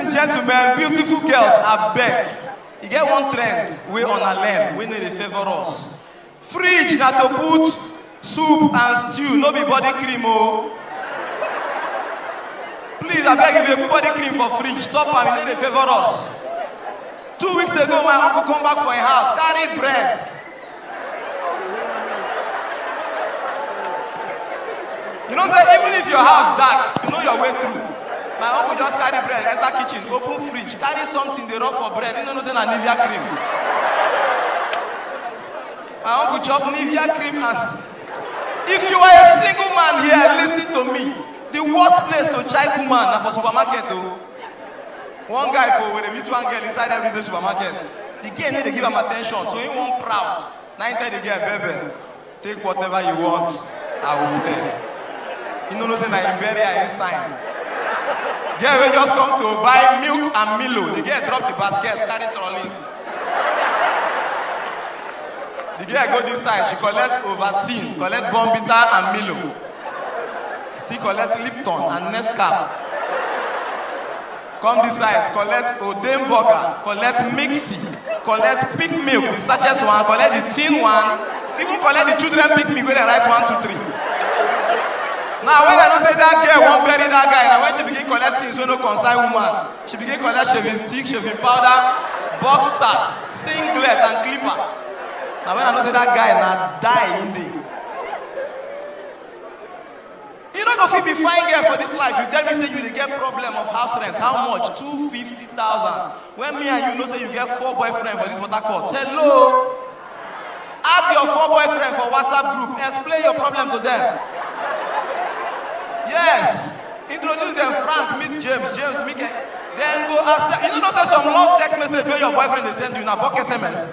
and gentlemen, beautiful girls, I beg. You get one trend we on a learn, we need a favor us. Fridge na to put soup and stew, no be body cream oh. Please, I beg if you put body cream for fridge, stop am, you need a favor us. Two weeks ago, my uncle come back for a house, carry bread. You know say even if your house dark, you know your way through. My uncle just carry bread, enter kitchen, open fridge, carry something they rub for bread. You know nothing na Nivea cream. My uncle chop Nivea cream and if you are a single man here, listen to me. The worst place to check woman na for supermarket o. One guy for Owerri meet one girl inside everyday supermarket. The girl no dey give am attention, so he wan proud. Na him tell the girl, "Bebe, take whatever you want, I will pay." You no know say na him bury her him sign. Girl wey just come to buy milk and Milo, the girl drop the basket, carry trolley. The girl go this side, she collect Ovaltine, collect Bournvita and Milo. still collect lipton and nescaf come this side collect oden burger collect mixi collect pig milk the sachet one collect the tin one even collect the children pig milk wey dem write one two three now when i know say that girl wan bury that guy na when she begin collect things wey no concern woman she begin collect shaving stick shaving powder boxers singlet and clipper na when i know say that guy na die him dey. You no go fit be fine girl for this life. You tell me say you dey get problem of house rent. How much? Two fifty thousand. When me and you know say you get four boyfriend for this water court. Hello. Add your four boyfriend for WhatsApp group. Explain your problem to them. Yes. Introduce them Frank, meet James, James, Mike. Then go ask them. You know, say some love text message where your boyfriend is send you now, book SMS.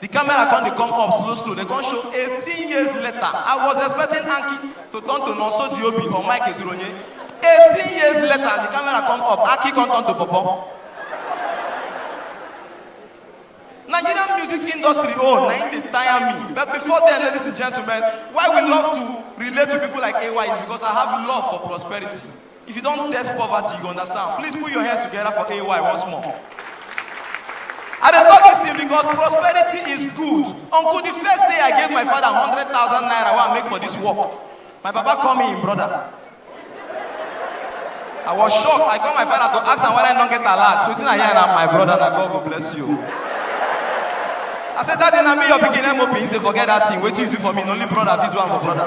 The camera come dey come up slow slow, dem come show 18 years later. I was expecting Anki to turn to Nonso Diobi or Mike Ezuronye. 18 years later, the camera come up, Anki come turn to Popo. Nigerian music industry own na im dey tire me. But before then, ladies and gentlemen, why we love to relate to people like AY is because I have love for prosperity. If you don't test poverty, you understand. Please put your hands together for AY once more. I dey talk this thing because prosperity is good. Uncle, the first day I gave my father 100,000 naira wey I make for this work, my papa call me him brother. I was shocked. I call my father to ask am whether I don't get alert. So I hear am, my brother, na God go bless you. I said, Daddy, na me your pikin MOP. He said, forget that thing. Wetin you do for me, na only brother fit do am for brother.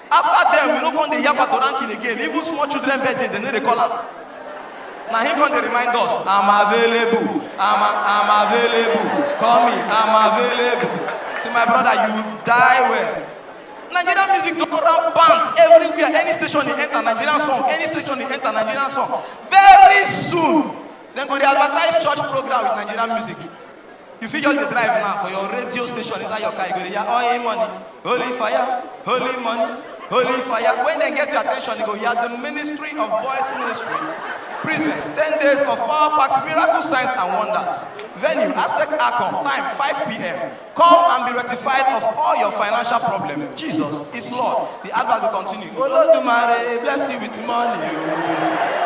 After there, we no come dey yab at ranking again. Even small children birthday, they no dey call am. Na him come dey remind us, I'm available, I'm, I'm available, call me, I'm available. See my brother, you die well. Nigerian music don run bands everywhere. Any station they enter Nigerian song, any station they enter Nigerian song. Very soon, dem go dey advertise church program with Nigerian music. You fit just dey drive now for your radio station inside your car, you go dey hear oil money, holy fire, holy money, holy fire. When they get your attention, you go hear the ministry of boys ministry. Presents 10 days of power packed miracle signs and wonders. Venue Aztec Arcom, time 5 p.m. Come and be rectified of all your financial problem. Jesus is Lord. The advert will continue. Olodumare, bless you with money. oh.